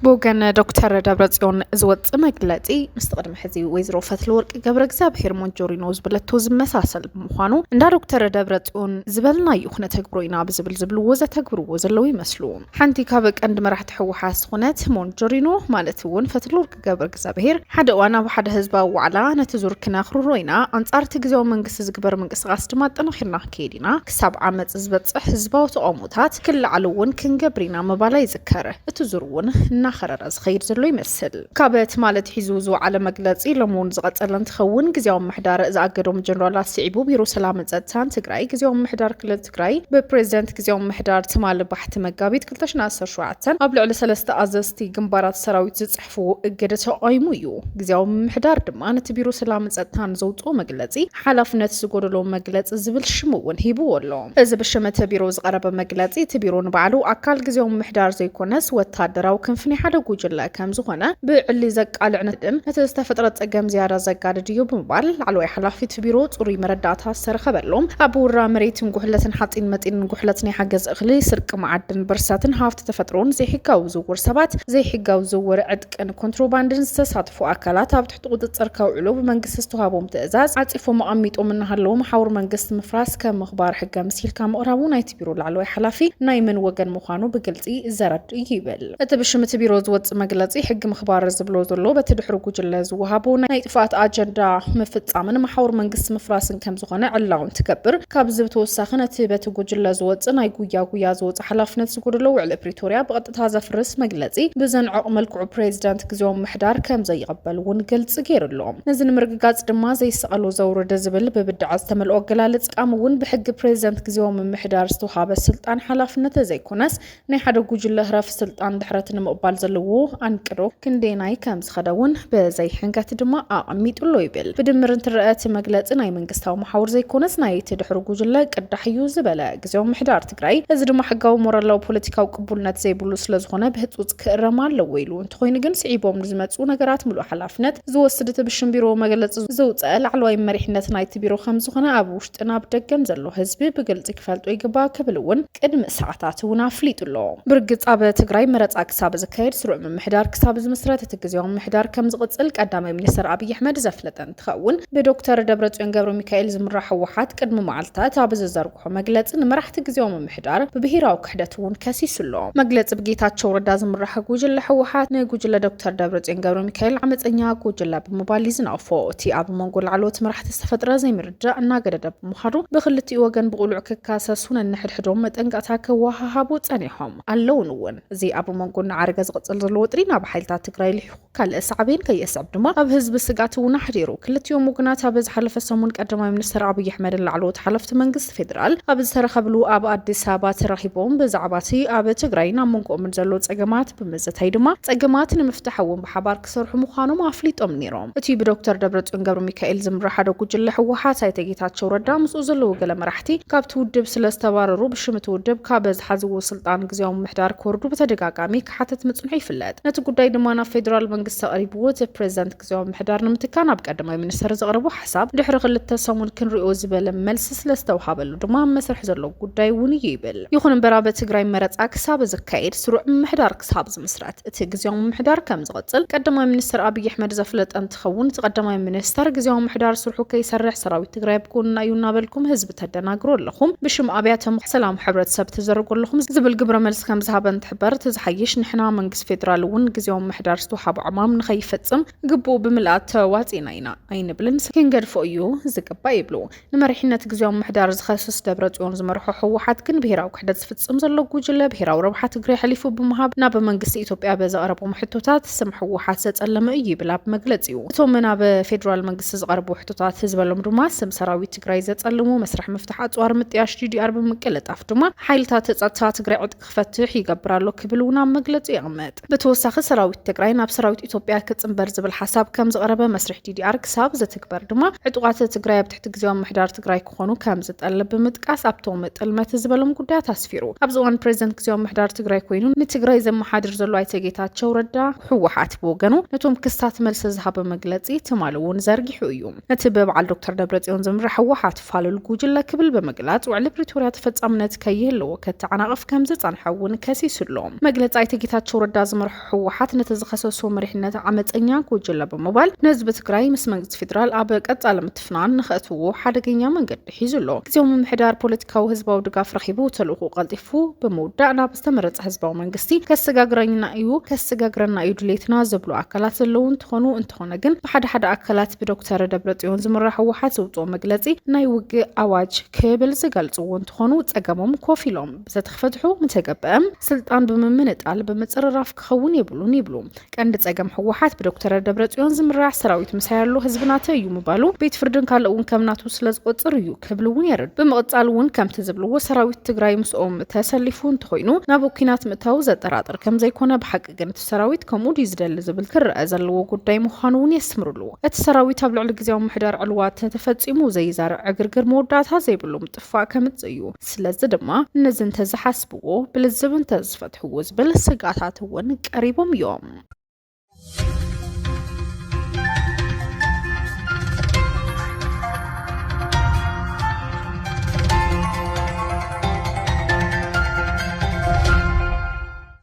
ብወገን ዶክተር ደብረፅዮን ዝወፅእ መግለፂ ምስቲ ቅድሚ ሕዚ ወይዘሮ ፈትለወርቂ ገብረ እግዚኣብሄር ሞንጆሪኖ ዝበለቶ ዝመሳሰል ብምዃኑ እንዳ ዶክተር ደብረፅዮን ዝበልናዩ ክነተግብሮ ኢና ብዝብል ዝብልዎ ዘተግብርዎ ዘለዉ ይመስሉ። ሓንቲ ካብ ቀንዲ መራሕቲ ህወሓት ዝኾነት ሞንጆሪኖ ማለት እውን ፈትለወርቅ ገብረ እግዚኣብሄር ሓደ እዋን ኣብ ሓደ ህዝባዊ ዋዕላ ነቲ ዙር ክነኽርሮ ኢና፣ ኣንጻር እቲ ግዜያዊ መንግስቲ ዝግበር ምንቅስቓስ ድማ ኣጠናኺርና ክንከይድ ኢና፣ ክሳብ ዓመጽ ዝበጽሕ ህዝባዊ ተቓውሞታት ክለዓሉ እውን ክንገብር ኢና ምባላ ይዝከር። እቲ ዙር እውን እናኸረረ ዝኸይድ ዘሎ ይመስል። ካብ ትማሊ ኣትሒዙ ዝወዓለ መግለጺ ሎሚ እውን ዝቐጸለ እንትኸውን፣ ግዜያዊ ምምሕዳር ዝኣገዶም ጀነራላት ስዒቡ ቢሮ ሰላምን ጸጥታን ትግራይ፣ ግዜያዊ ምምሕዳር ክልል ትግራይ ብፕሬዚደንት ግዝያዊ ምምሕዳር ትማሊ ባሕቲ መጋቢት ክልተ ሽሕን ዓሰርተ ሸውዓተን ኣብ ልዕሊ ሰለስተ ኣዘዝቲ ግንባራት ሰራዊት ዝፅሕፍዎ እገደ ተቓይሙ እዩ። ግዝያዊ ምምሕዳር ድማ ነቲ ቢሮ ሰላምን ፀጥታን ዘውፅኦ መግለፂ ሓላፍነት ዝጎደሎ መግለፂ ዝብል ሽም እውን ሂብዎ ኣሎ። እዚ ብሽም እቲ ቢሮ ዝቐረበ መግለፂ እቲ ቢሮ ንባዕሉ ኣካል ግዝያዊ ምምሕዳር ዘይኮነስ ወታደራዊ ክንፊ ናይ ሓደ ጉጅለ ከም ዝኾነ ብዕሊ ዘቃልዕ ንድም ነቲ ዝተፈጥረ ጸገም ዝያዳ ዘጋድድ እዩ ብምባል ላዕለዋይ ሓላፊ እቲ ቢሮ ጽሩይ መረዳእታ ዝተረኸበሉ ኣብ ውራ መሬትን ጉሕለትን ሓጺን መጺንን ጉሕለት ናይ ሓገዝ እኽሊ ስርቂ መዓድን ብርሰትን ሃፍቲ ተፈጥሮን ዘይሕጋዊ ዝውውር ሰባት ዘይሕጋዊ ዝውውር ዕጥቅን ኮንትሮባንድን ዝተሳትፉ ኣካላት ኣብ ትሕቲ ቁፅፅር ከውዕሉ ብመንግስቲ ዝተዋህቦም ትእዛዝ ዓፂፎም ኣቐሚጦም እናሃለዉ መሓውር መንግስቲ ምፍራስ ከም ምኽባር ሕገ ምሲልካ ምቕራቡ ናይቲ ቢሮ ላዕለዋይ ሓላፊ ናይ መን ወገን ምዃኑ ብግልፂ ዘረድእ እዩ ይብል እቲ ብሽም እቲ ቢሮ ዝወፅእ መግለፂ። ሕጊ ምኽባር ዝብሎ ዘሎ በቲ ድሕሪ ጉጅለ ዝወሃቦ ናይ ጥፍኣት ኣጀንዳ ምፍፃምን መሓውር መንግስቲ ምፍራስን ከም ዝኾነ ዕላዊ እንትገብር ካብዚ ብተወሳኺ ነቲ በቲ ጉጅለ ዝወፅእ ናይ ጉያ ጉያ ዝወፅእ ሓላፍነት ጉድሎ ውዕሊ ፕሪቶርያ ብቐጥታ ዘፍርስ መግለፂ ብዘንዕቕ መልክዑ ፕሬዚደንት ግዜዊ ምምሕዳር ከምዘይቕበል እውን ግልፂ ገይሩ ኣሎ። ነዚ ንምርግጋፅ ድማ ዘይሰቐሉ ዘውርድ ዝብል ብብድዐ ዝተመልኦ ኣገላልፃ ምጥቃም እውን ብሕጊ ፕሬዚደንት ግዜዊ ምምሕዳር ዝተውሃበ ስልጣን ሓላፍነት ተዘይኮነስ ናይ ሓደ ጉጅለ ህረፍ ስልጣን ድሕረት ንምቕባል ዘለዎ ኣንቅዶ ክንደየናይ ከምዝኸደ እውን ብዘይሕንከት ድማ ኣቐሚጡ ኣሎ ይብል። ብድምር እንትረኣ እቲ መግለፂ ናይ መንግስታዊ መሓውር ዘይኮነስ ናይቲ ድሕሩ ጉጅለ ቅዳሕ እዩ ዝበለ ግዜዊ ምምሕዳር ትግራይ፣ እዚ ድማ ሕጋዊ ሞራላዊ ፖለቲካዊ ቅቡልነት ዘይብሉ ስለዝኾነ ብህፁፅ ክእረም ኣለዎ ኢሉ። እንተኾይኑ ግን ስዒቦም ንዝመፅኡ ነገራት ምሉእ ሓላፍነት ዝወስድ እቲ ብሽም ቢሮ መግለፂ ዘውፀኣ ላዕለዋይ መሪሕነት ናይቲ ቢሮ ከምዝኾነ ኣብ ውሽጥን ኣብ ደገን ዘሎ ህዝቢ ብግልፂ ክፈልጦ ይግባእ ክብል እውን ቅድሚ ሰዓታት እውን ኣፍሊጡ ኣሎ። ብርግፅ ኣብ ትግራይ መረፃ ክሳብ ዝካየድ ስሩዕ ምምሕዳር ክሳብ ዝምስረት እቲ ግዝያዊ ምምሕዳር ከምዝቕፅል ቀዳማይ ሚኒስትር ኣብይ ኣሕመድ ዘፍለጠ ትኸውን። ብዶክተር ደብረፅዮን ገብረሚካኤል ዝምራሕ ህወሓት ቅድሚ መዓልታት ኣብ ዝዘርግሖ መግለፂ ንመራሕቲ ግዝያዊ ምምሕዳር ብብሄራዊ ክሕደት እውን ከሲሱ ኣሎ። መግለፂ ብጌታቸው ረዳ ዝምራሕ ጉጅለ ህወሓት ንጉጅለ ዶክተር ደብረፅዮን ገብረሚካኤል ዓመፀኛ ጉጅለ ብምባል እዩ ዝነቕፎ። እቲ ኣብ መንጎ ላዕለዎት መራሕቲ ዝተፈጥረ ዘይምርድዳእ እናገደደ ብምኻዱ ብኽልቲኡ ወገን ብቕሉዕ ክካሰሱ ነንሕድሕዶም መጠንቀቕታ ክወሃሃቡ ፀኒሖም ኣለውን እውን። እዚ ኣብ መንጎ እናዓረገ ዝቕፅል ዘሎ ወጥሪ ናብ ሓይልታት ትግራይ ልሒኹ ካልእ ሳዕቤን ከየስዕብ ድማ ኣብ ህዝቢ ስግኣት እውን ኣሕዲሩ። ክልቲኦም ወገናት ኣብ ዝሓለፈ ሰሙን ቀዳማይ ሚኒስተር ኣብይ ኣሕመድን ላዕለዎት ሓለፍቲ መንግስቲ ፌደራል ኣብ ዝተረኸብሉ ኣብ ኣዲስ ኣበባ ተራኺቦም ብዛዕባ'ቲ ኣብ ትግራይን ኣብ መንጎኦምን ዘሎ ጸገማት ብምዝታይ ድማ ጸገማት ንምፍታሕ እውን ብሓባር ክሰርሑ ምዃኖም ኣፍሊጦም ነይሮም። እቲ ብዶክተር ደብረጽዮን ገብረሚካኤል ዝምራሕ ሓደ ጉጅለ ህወሓት ኣይተ ጌታቸው ረዳ ምስኡ ዘለዉ ገለ መራሕቲ ካብቲ ውድብ ስለዝተባረሩ ብሽም እቲ ውድብ ካብ ዝሓዝዎ ስልጣን ግዝያዊ ምምሕዳር ክወርዱ ብተደጋጋሚ ክሓትት ምጽንሑ ይፍለጥ። ነቲ ጉዳይ ድማ ናብ ፌደራል መንግስቲ ኣቕሪብዎ እቲ ፕሬዚዳንት ግዝያዊ ምምሕዳር ንምትካእ ናብ ቀዳማይ ሚኒስተር ዘቕረቦ ሓሳብ ድሕሪ ክልተ ሰሙን ክንሪኦ ዝበለ መልሲ ስለዝተውሃበሉ ድማ ኣብ መስርሕ ዘሎ ጉዳይ እውን እዩ ይብል። ይኹን እምበር ኣብ ትግራይ መረጻ ክሳብ ዝካየድ ስሩዕ ምምሕዳር ክሳብ ዝምስረት እቲ ግዝያዊ ምምሕዳር ከምዝቕጽል ቀዳማይ ሚኒስተር ኣብይ ኣሕመድ ዘፍለጠ እንትኸውን እቲ ቀዳማይ ሚኒስተር ግዝያዊ ምምሕዳር ስርሑ ከይሰርሕ ሰራዊት ትግራይ ኣብ ጎንና እዩ እናበልኩም ህዝቢ ተደናግሩ ኣለኹም ብሽም ኣብያተ ምኽሪ ሰላም ሕብረተሰብ ትዝርጉ ኣለኹም ዝብል ግብረ መልሲ ከም ዝሃበ እንትሕበር እቲ ዝሓይሽ ንሕና መንግስቲ ፌዴራል እውን ግዝያዊ ምምሕዳር ዝተውሃቦ ዕማም ንኸይፈፅም ግቡኡ ብምልኣት ተዋፂእና ኢና ኣይንብልን ክንገድፎ እዩ ዝግባእ ይብሉ። ንመሪሕነት ግዝያዊ ምምሕዳር ዝኸስስ ደብረፅዮን ዝመርሖ ህወሓት ግን ብሄራዊ ክሕደት ዝፍፅም ዘሎ ጉጅለ ብሄራዊ ረብሓ ትግሬ ኣሕሊፉ ብምሃብ ናብ መንግስቲ ኢትዮጵያ በዘቕረቦም ሕቶታት ስም ህወሓት ዘፀለመ እዩ ይብል ኣብ መግለፂኡ። እቶም ናብ ፌዴራል መንግስቲ ዝቐረቡ ሕቶታት ዝበሎም ድማ ስም ሰራዊት ትግራይ ዘፀልሙ መስርሕ ምፍታሕ ኣፅዋር ምጥያሽ ዲዲኣር ብምቅልጣፍ ድማ ሓይልታት ፀጥታ ትግራይ ዕጥቂ ክፈትሕ ይገብር ኣሎ ክብል እውን ኣብ መግለፂ የቕምጥ። ብተወሳኺ ሰራዊት ትግራይ ናብ ሰራዊት ኢትዮጵያ ክፅምበር ዝብል ሓሳብ ከምዝቐረበ መስርሕ ዲዲኣር ክሳብ ዝትግበር ድማ ዕጡቓት ትግራይ ኣብ ትሕቲ ግዝያዊ ምምሕዳር ትግራይ ክኾኑ ከምዝጠልብ ብምጥቃስ ኣብቶም ጥልመት ዝበሎም ጉዳያት ኣስፊሩ። ኣብዚ እዋን ፕሬዚደንት ግዝያዊ ምምሕዳር ትግራይ ኮይኑ ንትግራይ ዘመሓድር ዘሎ ኣይተ ጌታቸው ረዳ ህወሓት ብወገኑ ነቶም ክስታት መልሲ ዝሃበ መግለፂ ትማሊ እውን ዘርጊሑ እዩ። ነቲ ብበዓል ዶክተር ደብረጽዮን ዝምራሕ ህወሓት ፋሉል ጉጅለ ክብል ብምግላጽ ውዕሊ ፕሪቶርያ ተፈጻምነት ከይህልዎ ከተዓናቕፍ ከም ዝጸንሐ እውን ከሲሱ ኣሎ። መግለጺ ኣይተ ጌታቸው ረዳ ዝመርሖ ህወሓት ነቲ ዝኸሰሶ መሪሕነት ዓመፀኛ ጉጅለ ብምባል ንህዝቢ ትግራይ ምስ መንግስቲ ፌዴራል ኣብ ቀጻሊ ምትፍናን ንኸእትውዎ ሓደገኛ መንገዲ ሒዙ ኣሎ። ግዜያዊ ምምሕዳር ፖለቲካዊ ህዝባዊ ድጋፍ ረኺቡ ተልእኹኡ ቀልጢፉ ብምውዳእ ናብ ዝተመረፀ ህዝባዊ መንግስቲ ከሰጋግረኝና እዩ ከሰጋግረና እዩ ድሌትና ዝብሉ ኣካላት ዘለዉ እንትኾኑ እንተኾነ ግን ብሓደ ሓደ ኣካላት ብዶክተር ደብረፅዮን ዝምራሕ ህወሓት ዘውፅኦ መግለፂ ናይ ውግእ ኣዋጅ ክብል ዝገልፅዎ እንትኾኑ ፀገሞም ኮፍ ኢሎም ብዘተክፈትሑ ምተገበእም ስልጣን ብምምንጣል ብምፅርራፍ ክኸውን የብሉን ይብሉ። ቀንዲ ጸገም ህወሓት ብዶክተር ደብረጽዮን ዝምራሕ ሰራዊት ምሳይ ኣሎ ህዝቢ ናተይ እዩ ምባሉ ቤት ፍርድን ካልእ እውን ከም ናቱ ስለ ዝቆጽር እዩ ክብል እውን የረድ ብምቕጻል እውን ከምቲ ዝብልዎ ሰራዊት ትግራይ ምስኦም ተሰሊፉ እንተኾይኑ ናብ ኩናት ምእታው ዘጠራጥር ከም ዘይኮነ ብሓቂ ግን እቲ ሰራዊት ከምኡ ድዩ ዝደሊ ዝብል ክረኣ ዘለዎ ጉዳይ ምዃኑ እውን የስምርሉ እቲ ሰራዊት ኣብ ልዕሊ ግዜያዊ ምሕዳር ዕልዋ ተተፈጺሙ ዘይዛርዕ ዕግርግር መወዳእታ ዘይብሉ ምጥፋእ ከምጽእ እዩ። ስለዚ ድማ ነዚ እንተዝሓስብዎ ብልዝብ እንተዝፈትሕዎ ዝብል ስግኣታት እውን ቀሪቦም እዮም።